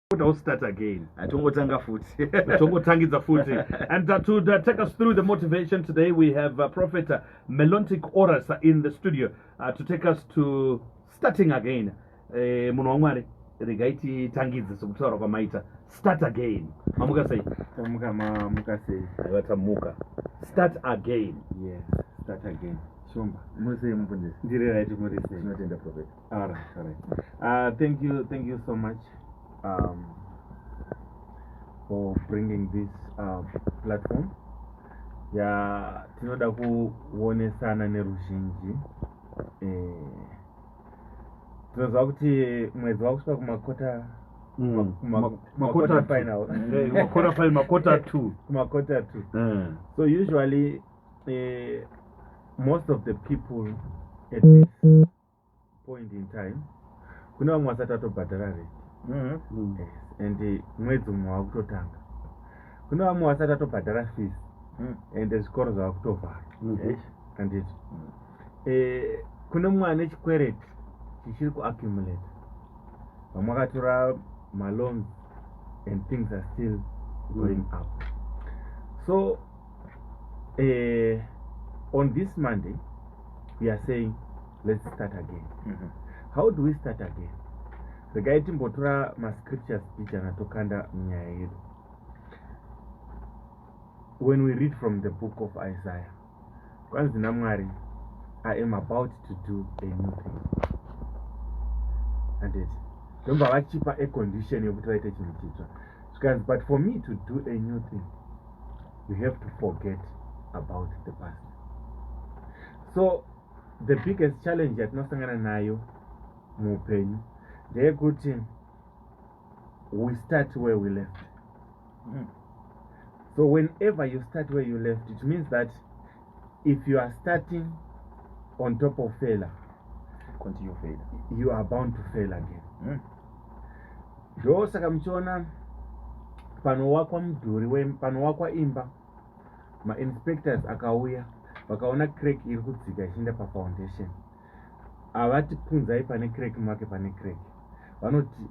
What else start again? I don't go tanga food. I don't go tanga the food. And uh, to uh, take us through the motivation today, we have uh, Prophet uh, Melontic Oras uh, in the studio uh, to take us to starting again. Eh, munhu wamwari regai titangidze sokutaura kwamaita start again mamuka sei tamuka mamuka sei aiva tamuka start again yes start again shumba musei mubvunzisi ndiri right muri sei tinotenda profeta All right, all right. Uh, thank you, thank you so much um, for bringing this uh, platform. Yeah, tinoda kuonesana neruzhinji eh, tinoziva kuti mwedzi wakusvika kumakota mm. kumakota final eh, makota final makota two kumakota two eh. so usually eh, most of the people at this point in time kune vamwe vasati vatobhadhara rent mm-hmm. yes. and mwedzi umwe wava kutotanga kune vamwe vasati vatobhadhara fees mm. and zvikoro zvava kutovhara mm-hmm. anditi mm. eh, kune mumwe ane chikwereti chichiri kuaccumulate vamwe akatora maloans and things are still going mm. up so uh, on this monday we are saying let's start again mm -hmm. how do we start again regai timbotora mascriptures bijana tokanda nyaya yedu when we read from the book of isaiah kwanzi namwari i am about to do a new thing andit ndomba vachipa acondition yekuti vaite chinhu chitsva zvikanzi but for me to do a new thing you have to forget about the past so the biggest challenge yatinosangana nayo muupenyu ndeyekuti we start where we left mm. so whenever you start where you left it means that if you are starting on top of failure continue failure you are bound to fail again mm. ndosaka muchiona panowakwa mudhuri wepanowakwa imba mainspectors akauya vakaona crack iri kudzika ichienda pafoundation havati punzai pane crack make pane crack vanoti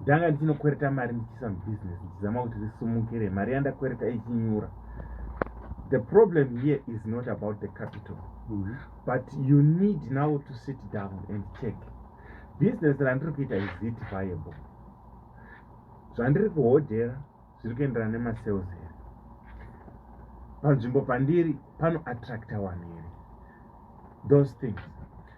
ndanga ndichinokwereta mari ndichiisa mubusiness ndichizama kuti risumukire mari yandakwereta ichinyura the problem here is not about the capital mm -hmm. but you need now to sit down and check business randiri kuita is it viable zvandiri kuhodhera zviri kuenderana nemasales here panzvimbo pandiri pano attracta wanhu here those things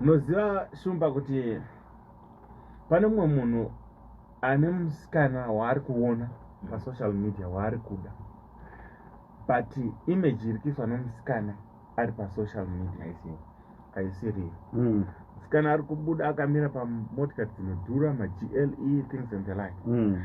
munoziva shumba kuti pane mumwe munhu ane musikana waari kuona pasocial media waari kuda but image iri kuiswa nomusikana ari pasocial media isiyo aisiriyo hmm. musikana ari kubuda akamira pamotikari dzinodhura magle things and the like mm.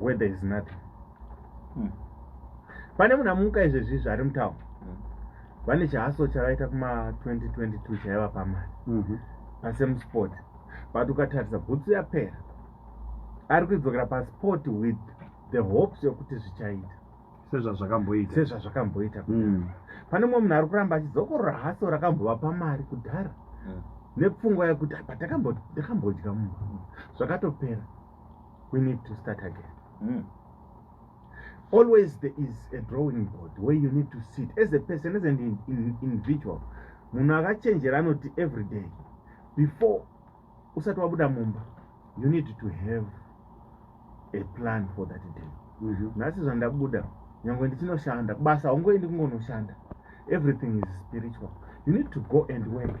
where there is nothing hmm. pane munhu amuka izvezvi zvari mutawa hmm. vane chihaso chavaita kuma 2022 chaiva pamari mhm. pasemusport but ukatarisa bhutsu yapera ari kuidzokera pasport with the hopes yokuti zvichaita sezvazvakamboita sezvazvakamboita hmm. pane mumwe munhu ari kuramba achidzokorora haso rakambova pamari kudhara nepfungwa yekuti apa takambodya munhu zvakatopera we need to start again mm. always there is a drawing board where you need to sit as a person as an in, in, individual munhu akachenjera anoti every day before usati wabuda mumba you need to have a plan for that day mhm. nhasi mm -hmm. zvandabuda nyange ndichinoshanda kubasa haungoendi kungonoshanda everything is spiritual you need to go and work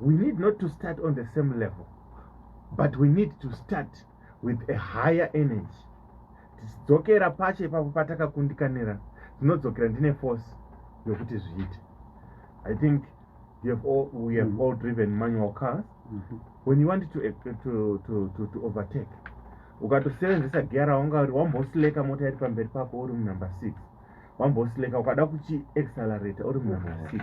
we need not to start on the same level but we need to start with a higher energy tichidzokera pacho ipapo patakakundikanira tinodzokera ndine force yokuti zviite i think you have all, we have mm. all driven manual cars mm -hmm. when you want to, eh, to, to, to, to overtake ukatosevenzesa gear raunga uri wambosileka mota iri pamberi pako uri munumber six wambosleka ukada kuchi accelerate uri mumasix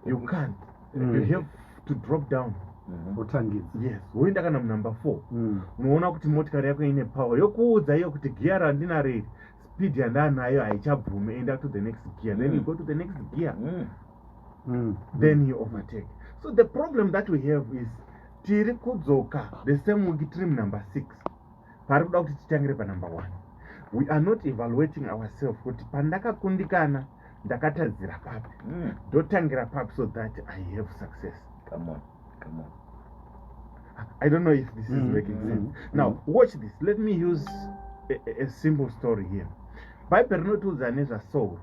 you can't mm. you have to drop down mm-hmm. wotangidza mm -hmm. yes woenda kana munumber four mm. unoona kuti motikari yako ine power yokuudza iyo kuti giya randinaro iri speed yandanayo haichabvume enda to the next gear mm. then you mm. go to the next gear mm. Mm. then you overtake so the problem that we have is tiri kudzoka the same week trim number six pari kuda kuti titangire panumber one we are not evaluating ourselves kuti pandakakundikana ndakatadzira papi hmm. ndotangira mm. papi so that i have success come on come on i don't know if this is mm. making sense mm. now mm. watch this let me use a, a, a simple story here bhaibheri rinotiudza nezvasauro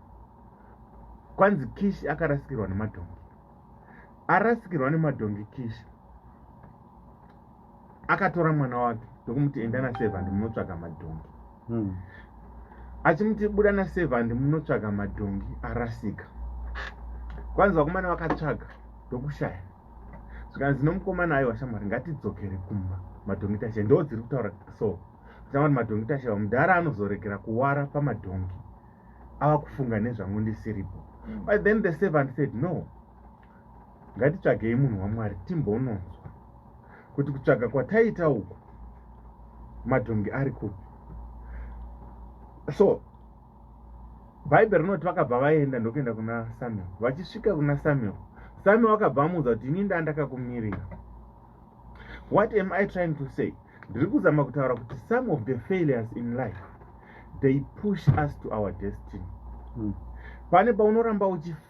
kwanzi kishi akarasikirwa nemadhongi arasikirwa nemadhongi kishi akatora mwana wake ndokumuti enda naservant munotsvaga madhongi hmm. achimuti buda naservant munotsvaga madhongi arasika kwanzi vakomana vakatsvaga ndokushaya zvikanzi nomukomana ayo washamwari ngatidzokere kumba madhongi tashe ndo dziri kutaura so tinakuti madhongi tashe vamudhara anozoregera kuwara pamadhongi ava kufunga nezvangu ndisiripo hmm. but then the servant said no ngatitsvagei munhu wamwari timbononzwa kuti kutsvaga kwataita uku madhongi ari kupi so bhaibheri rinoti vakabva vaenda ndokuenda kuna samuel vachisvika kuna samuel samuel akabva amuudza kuti ini ndandakakumirira what am i trying to say ndiri kuzama kutaura kuti some of the failures in life they push us to our destiny hmm. pane paunoramba uchifa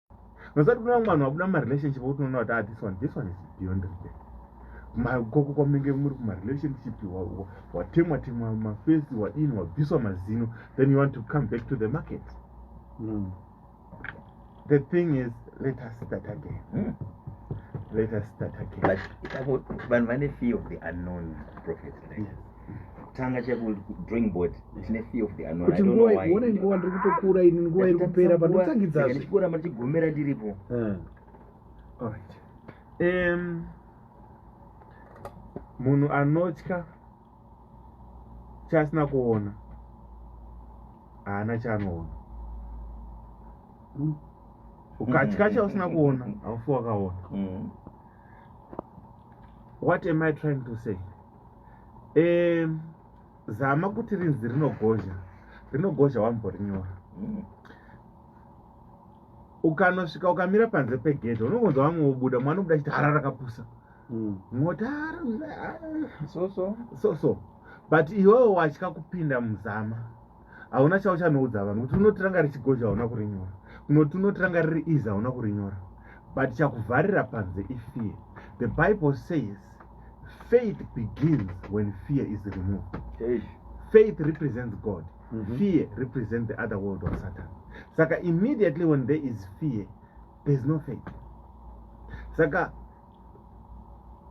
Nozati kuna vamwe vanhu vabuda mumarelationship okuti unoona kuti ah this one this one is beyond repair makoko kwamunenge muri kumarelationship watemwa temwa mafesi wadini wabviswa mazino then you want to come back to the market mm. the thing is let us start again mm. let us start again vanhu vane fear of the unknown prophet like. yes. kutanga chaiku drawing board tine fear of the unknown kuti nguva ione nguva ndiri kutokura ini nguva iri kupera panotangidza zve ndichikura machigomera ndiripo eh. alright um munhu anotya chaasina kuona haana chaanoona mm. ukatya mm. chausina kuona haufi wakaona mm. what am i trying to say eh, zama kuti rinzi rinogozha rinogozha wamborinyora mm. ukanosvika ukamira panze pegedhe unongonzwa vamwe vobuda mwana obuda chiti hara rakapusa mm. motara so so but iwewo watya kupinda muzama hauna chauchanoudza vanhu kuti unoti ranga richigozha hauna kurinyora unoti unoti ranga riri easy hauna kurinyora but chakuvharira panze ifear the bible says faith begins when fear is removed hey. faith represents god mm -hmm. fear represents the other world of satan saka immediately when there is fear there's no faith saka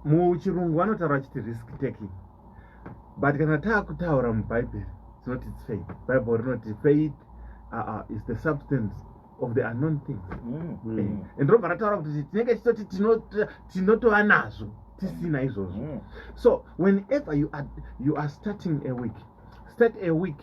muchirungu vanotaura vachiti risk taking but kana taakutaura mubhaibheri tinoti its faith bible rinoti faith uh, uh, is the substance of the unknown things mm. mm. Eh, and ndobva rataura kuti tinenge tichitoti tinotova nazvo tisina mm. izvozvo mm. so whenever you are, you are starting a week start a week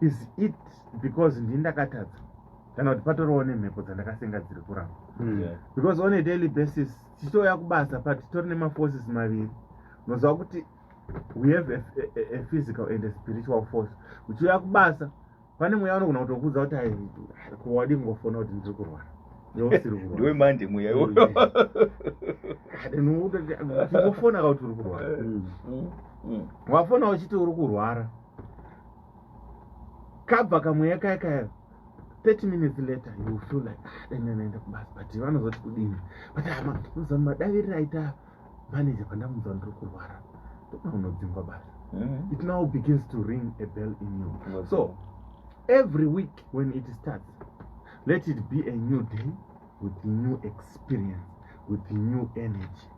is it because ndini ndakatadza kana kuti patoriwo nemhepo dzandakasenga dziri kuramba hmm. because on a daily basis tichitouya kubasa but titori nemaforces maviri unoziva kuti we have a, a, a physical and a spiritual force uchiuya kubasa pane mweya unogona kutokuudza kuti aiwadi kungofona kuti ndiri kurwara ndiwe manje mweya iwoyotingofonaka kuti uri kurwara hmm. Hmm. wafona uchiti uri kurwara kabva kamweya kaya kaya 30 minutes later you feel like ah, dainanaenda kubasa but vanozoti kudini but hama ah, unoziva madaviriro aita manager pandamuziva ndiri kurwara ndokuna unodzingwa basa mm-hmm. it now begins to ring a bell in you so every week when it starts let it be a new day with new experience with new energy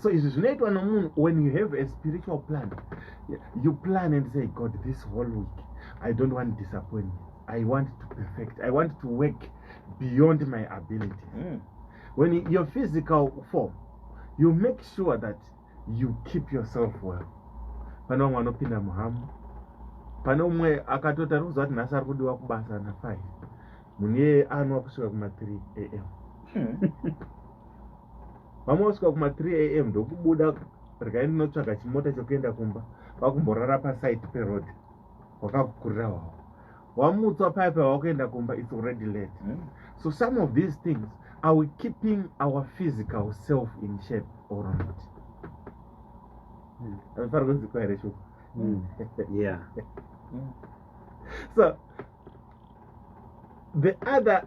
so izvi zvinoitwa nomunhu when you have a spiritual plan you plan and say god this whole week i don't want disappoint me i want to perfect i want to work beyond my ability mm. when your physical form you make sure that you keep yourself well pane vamwe vanopinda muhamu pane umwe akatoti ari kuziva kuti nhasi ari kudiwa kubasa nafive munhu iyeye anwa kusvika kuma3 am hmm. vamwe vasvika kuma 3 am ndokubuda regai ndinotsvaga chimota chekuenda kumba vakumborara pasite peroad wakakukurira wawo wamutswa paye paye wakuenda kumba its already late hmm. so some of these things are we keeping our physical self in shape or not hmm. amefana kunzikwa here shuku hmm. yeah so the other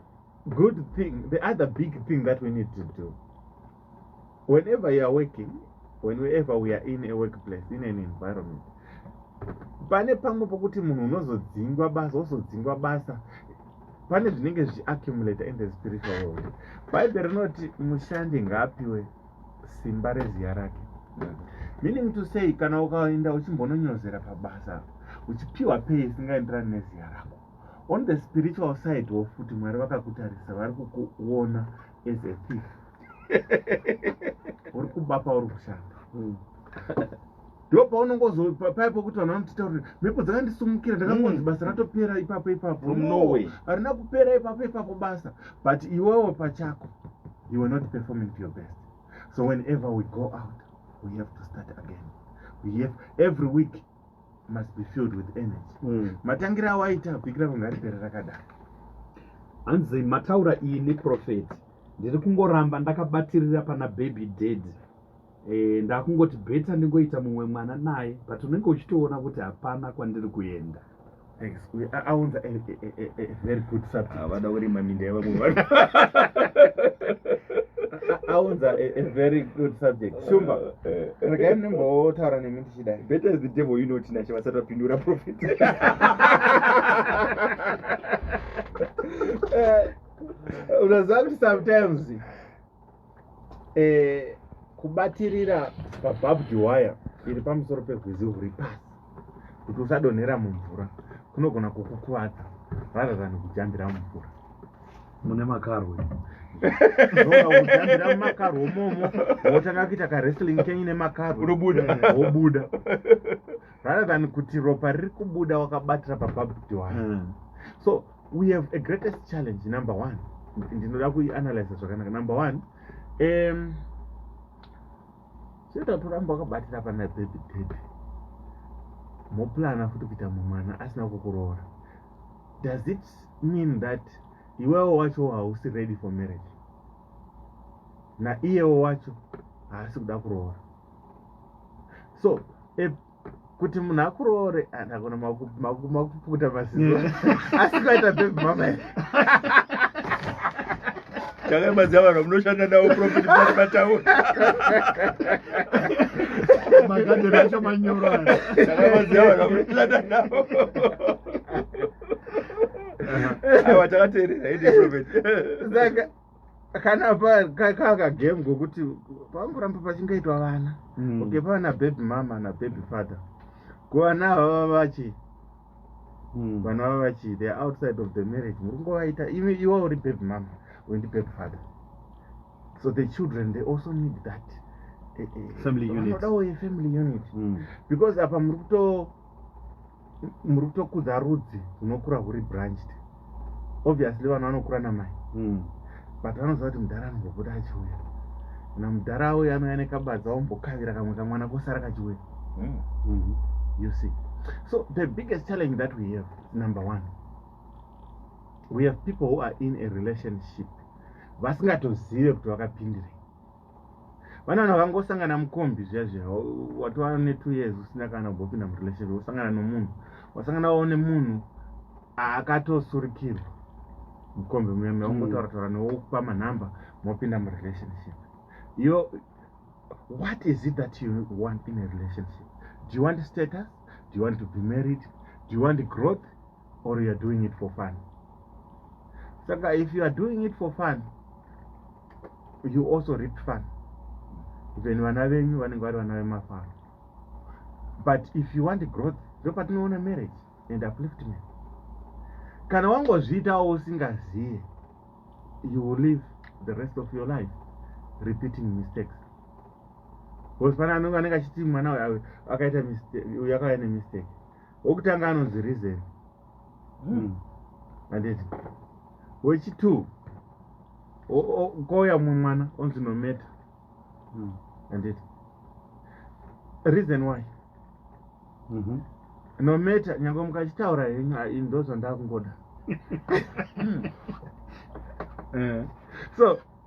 good thing the other big thing that we need to do whenever you are working whenever we are in a workplace in an environment pane pamwe pokuti munhu unozodzingwa basa wozodzingwa basa pane zvinenge zvichiaccumulator in the spiritual world bhaibhe rinoti mushandi ngaapiwe simba reziya rake meaning to say kana ukaenda uchimbononyozera pabasa uchipiwa pei isingaenderani neziya rako on the spiritual side wo futi mwari vakakutarisa vari kukuona as a thief uri kuba pauri kushanda hmm. ndo paunongozopaya pokuti vanhu vanotitaurira mhepo dzakandisumukira ndakangonzi hmm. basa ratopera ipapo ipapo norway harina kupera ipapo ipapo basa but iwewo pachako you are not performing to your best so whenever we go out we have to start again we have every week must be filled with energy mm. matangira awo aita apikira kunge ari pere rakadaro hanzi mataura ini prophet ndiri kungoramba ndakabatirira pana baby dad e, ndakungoti beta ndingoita mumwe mwana naye but unenge uchitoona kuti hapana kwandiri kuenda aunza very good subject avada ah, kurima minda yevamwe aunza a very good subject shumba eh, eh. regai ndinombotaura nemi ndichidai better is the devil you know tinashe vasati vapindura profit eh, unoziva kuti sometimes eh, kubatirira pabhabdi waya iri pamusoro pegwizi huri pasi kuti usadonhera mumvura kunogona kukukuvadza rather than kujambira mumvura mune makarwe ujambira mumakarwe momo wotanga kuita kawrestling kenyu nemakarwe unobuda eh, wobuda rather than kuti ropa riri kubuda wakabatira pabhabdi waya hmm. so we have a greatest challenge number one ndinoda kuianalyza zvakanaka number one um chetatoramba wakabatira pana baby dady moplana futi kuita mumwana asina kukuroora does it mean that iwewo wacho hausi ready for marriage naiyewo wacho haasi kuda kuroora so kuti munhu akuroore ah, ndakona makuputa maziso asi kwaita bebi mama chakaimaziva vanhu munoshanda navo profit pati pataura magadheni acho manyoro chakaimaziva vanhu munoshanda navo aiwa takateerera ende profit kana kaka game kokuti pangoramba pachingaitwa vana mm. okay pavana baby mama nababy father ko vana avava vachi mm. vana vava vachi theyare outside of the marriage muri kungovaita imi iwa uri baby mama wendi baby father so the children they also need that eh, eh, eh, family unit vanodawo yefamily unit mm. because apa muri kuto muri kutokudza rudzi hunokura huri branched obviously vanhu vanokura namai mm. but vanoziva kuti mudhara anozopota achiuya kana mudhara auya anouya nekabadza ombokavira kamwe kamwana kosara kachiuya mm. mm -hmm. you see so the biggest challenge that we have number one we have people who are in a relationship vasingatozive kuti vakapindirei vana vanhu vakangosangana mukombi zviya zviya watova netwo years usina kana kubopinda murelationship wosangana nomunhu wasangana wao nemunhu akatosurikirwa mukombi muya muya ungotaura taura newe wokupa manhamba mopinda murelationship yo what is it that you want in a relationship do you want status do you want to be married do you want growth or youare doing it for fun saka if you are doing it for fun you also rip fun then vana venyu vanenge vari vana vemafaro but if you want growth ndopatinoona marriage and upliftment kana wangozviitawo usingazive you will live the rest of your life repeating mistakes bcause pane anenge anenge achiti mwana uyu akaita uyu akauya nemistake wokutanga anonzi reason hmm. handiti wechitwo kouya mumwe mwana onzi nometa hmm. handiti reason why mhm. nometa nyange mukachitaura henyu ndo zvandakungoda hmm. eh. so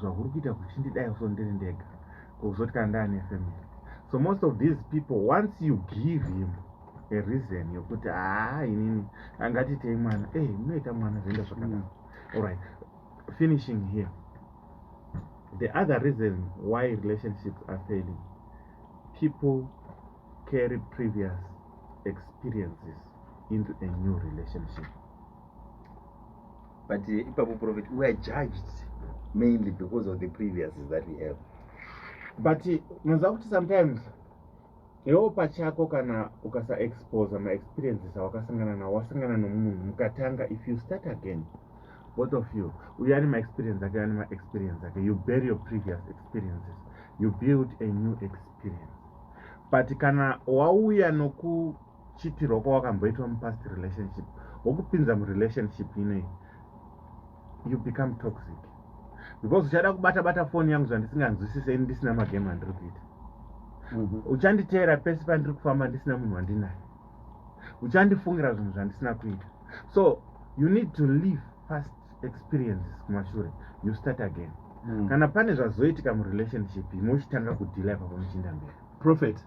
zvahuri kuita kuchindidai so ndiri ndega kuzoti kana ndaane family so most of these people once you give him a reason yokuti haa ah, inini angatiitei mwana e eh, munoita mwana zvoenda zvakanaka mm. allright finishing here the other reason why relationships are failing people carry previous experiences into a new relationship but eh, ipapo prophet we are judged mainly because of the previous that we have but munoziva kuti sometimes iwewo pachako kana ukasaexposa maexperiences awakasangana nawo wasangana nomunhu mukatanga if you start again both of you uyo ane maexperience ake ane maexperience ake you bury your previous experiences you build a new experience but kana wauya noku chitirwa kwawakamboitwa mupast relationship wokupinza murelationship inei you become toxic because uchada kubata bata foni yangu zvandisinganzwisise ini ndisina magame andiri kuita mhm. uchanditeera pese pandiri kufamba ndisina munhu wandinaye uchandifungira zvinhu zvandisina kuita so you need to leave fast experiences kumashure you start again mm. kana pane zvazoitika murelationship imochitanga kudhila ipapo muchiinda mberi prophet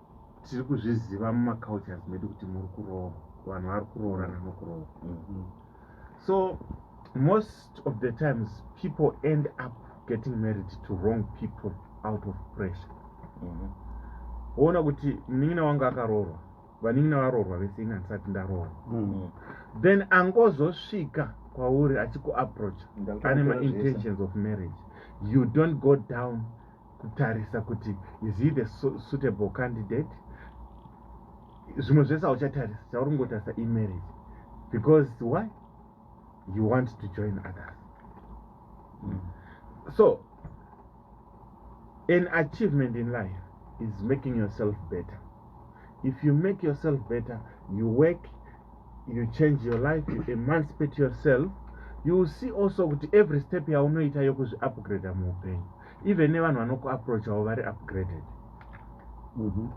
tiri kuzviziva mumacultures medu kuti muri kuroora vanhu vari kuroorana nokuroora mm-hmm. so most of the times people end up getting married to wrong people out of pressure mm-hmm. woona mm -hmm. kuti munin'ina wangu akaroorwa vanin'ina varoorwa vese ini handisati ndaroorwa mm -hmm. then angozosvika kwauri achikuapproacha ane maintentions of marriage you don't go down kutarisa kuti is he the suitable candidate zvimwe zvese hauchatarisa chauri kungotarisa imarriage because why you want to join others mm. so an achievement in life is making yourself better if you make yourself better you work you change your life you emancipate yourself you will see also kuti every step yaunoita yokuzviupgrada muupenyu even nevanhu vanokuapproachavo vari upgraded mhm.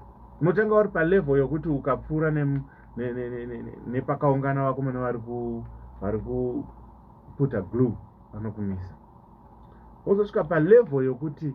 unotanga uri palevel yokuti ukapfuura nepakaungana vako mune vari kuputa glue vanokumisa wozosvika palevel yokuti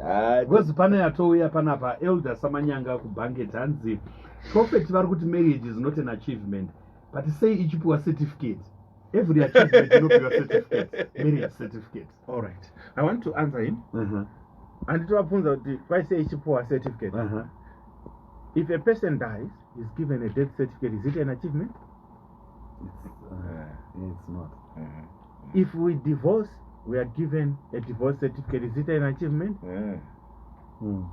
Ah, because pane yatouya panapa elder samanyanga kubhanget hanzi prophet vari kuti marriage is not an achievement but sei ichipiwa certificate every achievement inopiwa certificate marriage certificate all right i want to answer him uh-huh. anditovabvunza uh -huh. kuti vai sei ichipiwa certificate uh -huh. if a person dies is given a death certificate is it an achievement if we divorce we are given a divorce certificate is it an achievement yeah. mm.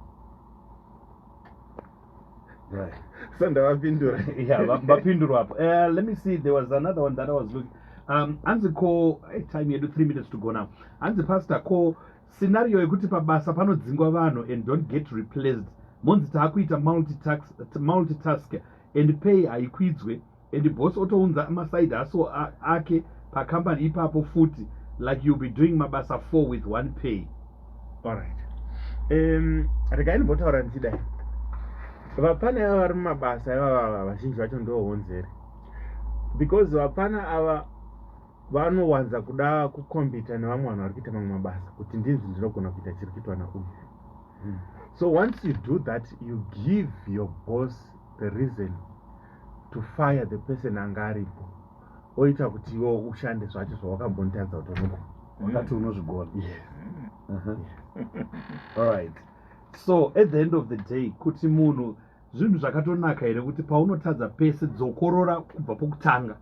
right. so ndavapindura yeah vapindurwa apo uh, let me see there was another one that i was looking um hanzi ko eh, time yedu three minutes to go now hanzi pastor ko scenario yekuti pabasa panodzingwa vanhu and don't get replaced monzi taakuita multitask, multitask and pay haikwidzwe and boss otounza maside haso ake pacompany ipapo futi like youll be doing mabasa four with one pay allright um, regai ndimbotaura ndichidai vapana ava vari mumabasa ivavava vazhinji vacho ndohonzeri because vapana ava vanowanza kuda kukombita nevamwe vanhu vari kuita mamwe mabasa kuti ndinzi ndinogona kuita chiri kuitwa nauyu hmm. so once you do that you give your boss the reason to fire the person anga aripo oita kuti iwo ushande zvacho zvawakambonitadza kuti unogo wakati unozvigona yes uh -huh. yes. all right so at the end of the day kuti munhu zvinhu zvakatonaka here kuti paunotadza pese dzokorora kubva pokutanga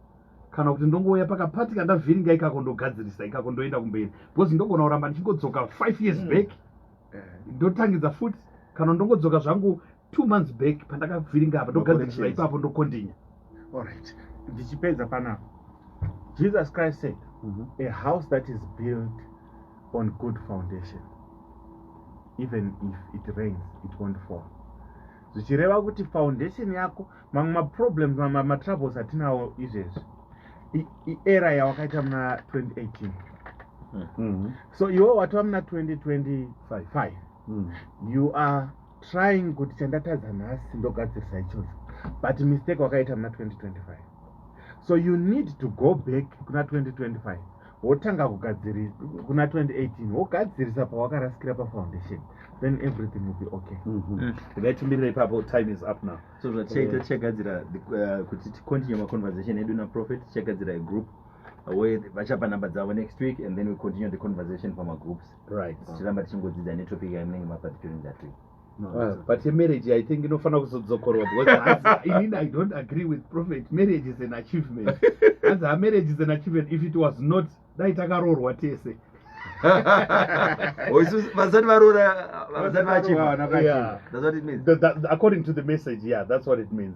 kana kuti ndongouya pakapati kandavhiringa ikako ndogadzirisa ikako ndoenda kumberi because ndogona kuramba ndichingodzoka five years mm. back eh. ndotangidza futi kana ndongodzoka zvangu two months back pandakavhiringa apa ndogadzirisa ipapo ndokondinya allright ndichipedza panapa jesus christ said mm -hmm. a house that is built on good foundation even if it rains it won't fall zvichireva kuti foundation yako mamwe maproblems mamwe matroubles atinawo izvezvi iera yawakaita muna 2018 mm -hmm. so iwo watova muna 2025 mm -hmm. you are trying kuti chandatadza nhasi ndogadzirisa ichocho but mistake wakaita muna 2025 so you need to go back kuna 2025 wotanga kugadzirisa kuna 2018 wogadzirisa pawakarasikira pafoundation then everything will be okay mm-hmm. mm. ngaitimirira ipapo time is up now so zvatichaita tichagadzira uh, kuti ticontinue maconversation edu naprofet tichagadzira igroup where vachapa number dzavo next week and then we continue the conversation pamagroups right tichiramba tichingodzidza netopic yamunenge mapa during that week Uh, but a marriage i think inofanira kuzodzokorwa becauseinini i don't agree with prophet marriage is an achievement as a marriage is an achievement if it was not dai takaroorwa tese oh, vasati varoora vasati vachiva according to the message yeah that's what it means